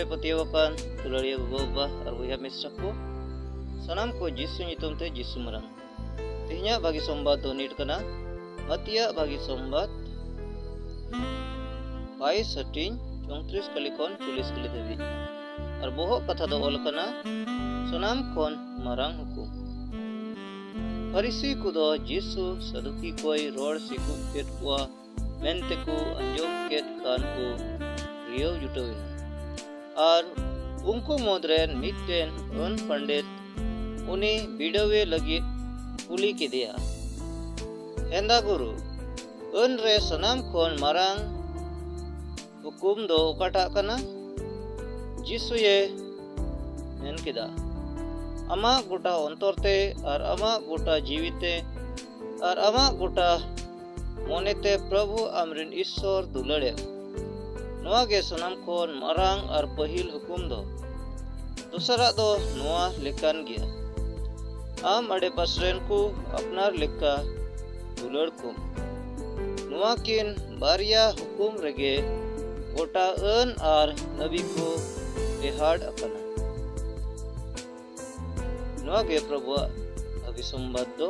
ᱨᱮ ᱯᱟᱹᱛᱭᱟᱹᱣ ᱟᱠᱟᱱ ᱫᱩᱞᱟᱹᱲᱤᱭᱟᱹ ᱜᱚᱜᱚ ᱵᱟᱵᱟ ᱟᱨ ᱵᱚᱭᱦᱟ ᱢᱤᱥᱨᱟ ᱠᱚ ᱥᱟᱱᱟᱢ ᱠᱚ ᱡᱤᱥᱩ ᱧᱩᱛᱩᱢ ᱛᱮ ᱡᱤᱥᱩ ᱢᱟᱨᱟᱝ ᱛᱮᱦᱮᱧᱟᱜ ᱵᱷᱟᱹᱜᱤ ᱥᱚᱢᱵᱟᱫ ᱫᱚ ᱱᱤᱴ ᱠᱟᱱᱟ ᱢᱟᱹᱛᱤᱭᱟᱜ ᱵᱷᱟᱹᱜᱤ ᱥᱚᱢᱵᱟᱫ ᱵᱟᱭᱤᱥ ᱦᱟᱹᱴᱤᱧ ᱪᱚᱝᱛᱨᱤᱥ ᱠᱟᱹᱞᱤ ᱠᱷᱚᱱ ᱪᱚᱞᱞᱤᱥ ᱠᱟᱹᱞᱤ ᱫᱷᱟᱹᱵᱤᱡ ᱟᱨ ᱵᱚᱦᱚᱜ ᱠᱟᱛᱷᱟ ᱫᱚ ᱚᱞ ᱠᱟᱱᱟ ᱥᱟᱱᱟᱢ ᱠᱷᱚᱱ ᱢᱟᱨᱟᱝ ᱦᱩᱠᱩᱢ ᱯᱷᱟᱹᱨᱤᱥᱤ ᱠᱚᱫᱚ ᱡᱤᱥᱩ ᱥᱟᱹᱫᱩᱠᱤ ᱠᱚᱭ ᱨᱚᱲ ᱥᱤᱠᱩᱵ ᱠᱮᱫ ᱠᱚᱣᱟ ᱢᱮᱱᱛᱮ ᱠᱚ ᱟᱸᱡᱚᱢ ᱠᱮᱫ ᱠᱷᱟᱱ ᱠᱚ ᱨᱤᱭᱟᱹᱣ ᱡᱩᱴᱟᱹᱣ ᱮᱱᱟ ᱟᱨ ᱩᱱᱠᱩ ᱢᱩᱫᱽ ᱨᱮᱱ ᱢᱤᱫᱴᱮᱱ ᱟᱹᱱ ᱯᱚᱸᱰᱤᱛ ᱩᱱᱤ ᱵᱤᱰᱟᱹᱣᱮ ᱞᱟᱹᱜᱤᱫ ᱠᱩᱞᱤ ᱠᱮᱫᱮᱭᱟ ᱮᱱᱫᱟ ᱜᱩᱨᱩ ᱟᱹᱱ ᱨᱮ ᱥᱟᱱᱟᱢ ᱠᱷᱚᱱ ᱢᱟᱨᱟᱝ ᱦᱩᱠᱩᱢ ᱫᱚ ᱚᱠᱟᱴᱟᱜ ᱠᱟᱱᱟ ᱡᱤᱥᱩᱭᱮ ᱢᱮᱱ ᱠᱮᱫᱟ ᱟᱢᱟᱜ ᱜᱚᱴᱟ ᱚᱱᱛᱚᱨ ᱛᱮ ᱟᱨ ᱟᱢᱟᱜ ᱜᱚᱴᱟ ᱡᱤᱣᱤ ᱛᱮ ᱟᱨ ᱟᱢᱟᱜ ᱜᱚᱴᱟ ᱢᱚᱱᱮᱛᱮ ᱯᱨᱚᱵᱷᱩ ᱟᱢᱨᱮᱱ ᱤᱥᱥᱚᱨ ᱫᱩᱞᱟᱹᱲᱮᱢ ᱱᱚᱣᱟ ᱜᱮ ᱥᱟᱱᱟᱢ ᱠᱷᱚᱱ ᱢᱟᱨᱟᱝ ᱟᱨ ᱯᱟᱹᱦᱤᱞ ᱦᱩᱠᱩᱢ ᱫᱚ ᱫᱚᱥᱟᱨᱟᱜ ᱫᱚ ᱱᱚᱣᱟ ᱞᱮᱠᱟᱱ ᱜᱮᱭᱟ ᱟᱢ ᱟᱰᱮᱯᱟᱥᱮ ᱨᱮᱱ ᱠᱚ ᱟᱯᱱᱟᱨ ᱞᱮᱠᱟ ᱫᱩᱞᱟᱹᱲ ᱠᱚᱢ ᱱᱚᱣᱟ ᱠᱤᱱ ᱵᱟᱨᱭᱟ ᱦᱩᱠᱩᱢ ᱨᱮᱜᱮ ᱜᱚᱴᱟ ᱟᱹᱱ ᱟᱨ ᱱᱟᱹᱵᱤ ᱠᱚ ᱴᱮᱦᱟᱰ ᱟᱠᱟᱱᱟ ᱱᱚᱣᱟ ᱜᱮ ᱯᱨᱚᱵᱷᱩᱣᱟᱜ ᱵᱷᱟᱹᱜᱤ ᱥᱚᱢᱵᱟᱫ ᱫᱚ